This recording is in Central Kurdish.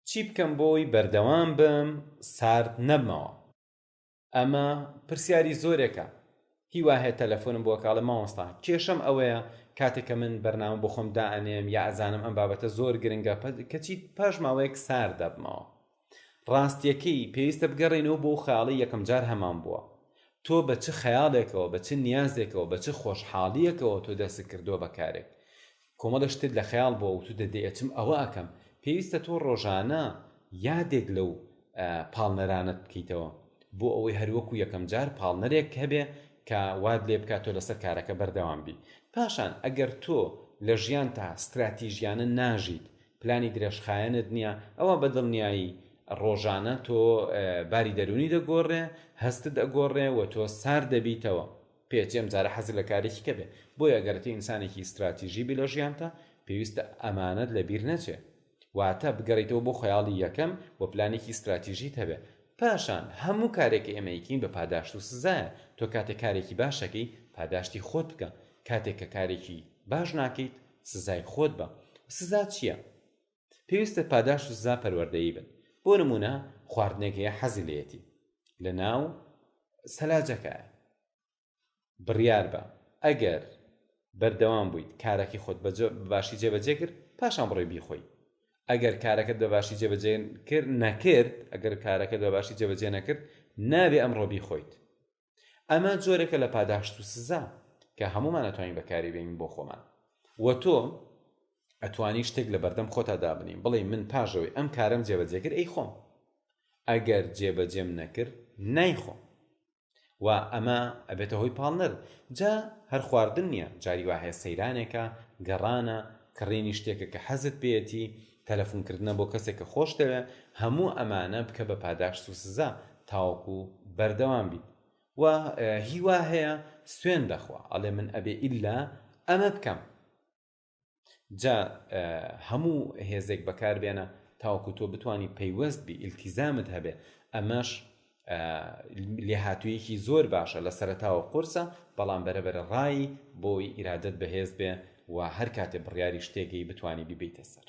چی بکەم بۆی بەردەوام بم سارد نەبمەوە ئەمە پرسیاری زۆرێکە هیواهەیە تەلەفۆنم بۆ کاڵە مامۆستا کێشەم ئەوەیە کاتێک کە من بەرنامە بۆ خۆم دائەنێم یا ئەزانم ئەم بابەتە زۆر گرنگە کەچی پاش ماوەیەک سار دەبمەوە ڕاستیەکەی پێویستە بگەڕێنەوە بۆ خەیاڵی یەکەم جار هەمان بووە تۆ بە چ خەیاڵێکەوە بە چ نیازێکەوە بە چ خۆشحاڵیەکەوە تۆ دەست کردووە بە کارێک کۆمەڵێ شتت لە خەیاڵ بووە وتوتە دە ئەچم ئەوە ئەکەم، پێویستە تۆ ڕۆژانە یادێک لەو پاڵنەرانەت بکەیتەوە بۆ ئەوەی هەر وەکو یەکەم جار پاڵنەرێک هەبێ کە وات لێ بکا تۆ لەسەر کارەکە بەردەوام بی. پاشان ئەگەر تۆ لە ژیانتا ستراتیژیانە ناژیت، پلانی درێژخایەنت نییە، ئەوا بە دڵنیایی ڕۆژانە تۆ باری دەروونی دەگۆڕێ، هەستت ئەگۆڕێ و تۆ سارد دەبیتەوە. پێت یەم جارە حەزت لە کارێکی کە بێ بۆیە گەر تۆ ئینسانێکی ستراتیژی بی لە ژیانتا پێویستە ئەمانەت لە بیر نەچێ واتە بگەڕیتەوە بۆ خەیاڵی یەکەم و پلانێکی ستراتیژیت هەبێ پاشان هەموو کارێک کە ئێمە ئەیکەین بە پاداشت و سزایە تۆ کاتێک کارێکی باش ئەکەی پاداشتی خۆت بکە کاتێک کە کارێکی باش ناکەیت سزای خۆت بە سزا چیە؟ پێویستە پاداشت و سزا پەروەردەیی بن بۆ نموونە خواردنێک هەیە حەزی لێتی لە ناو سەلاجەکە بڕیار بە ئەگەر بەردەوام بوویت کارەکەی خۆت باشی جێبەجێ کرد پاشان بڕێ بیخۆی ئەگەر کارەکەت بە باشی جێبەجێ کرد نەکرد ئەگەر کارەکەت بە باشی جێبەجێ نەکرد نابێ ئەمڕۆ بیخۆیت ئەمە جۆرێکە لە پاداشت و سزا کە هەمومان ئەتوانین بەکاری بێنین بۆ خۆمان وە تۆ ئەتوانی شتێک لە بەردەم خۆتا دابنین بڵێ من پاژەوەی ئەم کارم جێبەجێگر ئەی خۆم ئەگەر جێبەجێم نەکرد نایخۆم و ئەمە ئەبێتە هۆی پاڵنەر جا هەر خواردن نییە جاری وا هەیە سەیرانێکە گەڕانە کڕینی شتێکە کە حەزت پێەتی تەلەفون کردنە بۆ کەسێک کە خۆشت دەوێت، هەموو ئەمانە بکە بە پاداشت و سزا تاوەکو بەردەوام بیت و هی وا هەیە سوێن دەخوا ئەڵێ من ئەبێ ئیلا ئەمە بکەم جا هەموو هێزێک بەکار بێنە تاوەکو تۆ بتانی پەیوەست بی ئیلتیزامت هەبێ ئەمەش لێهاتوویەکی زۆر باشە لە سەرەتاوە قورسە بەڵام بەرەبەرە ڕایی بۆی ئیرادەت بەهێز بێ و هەر کاتێ بڕیاری شتێگەی بتانی بیبیتە سەر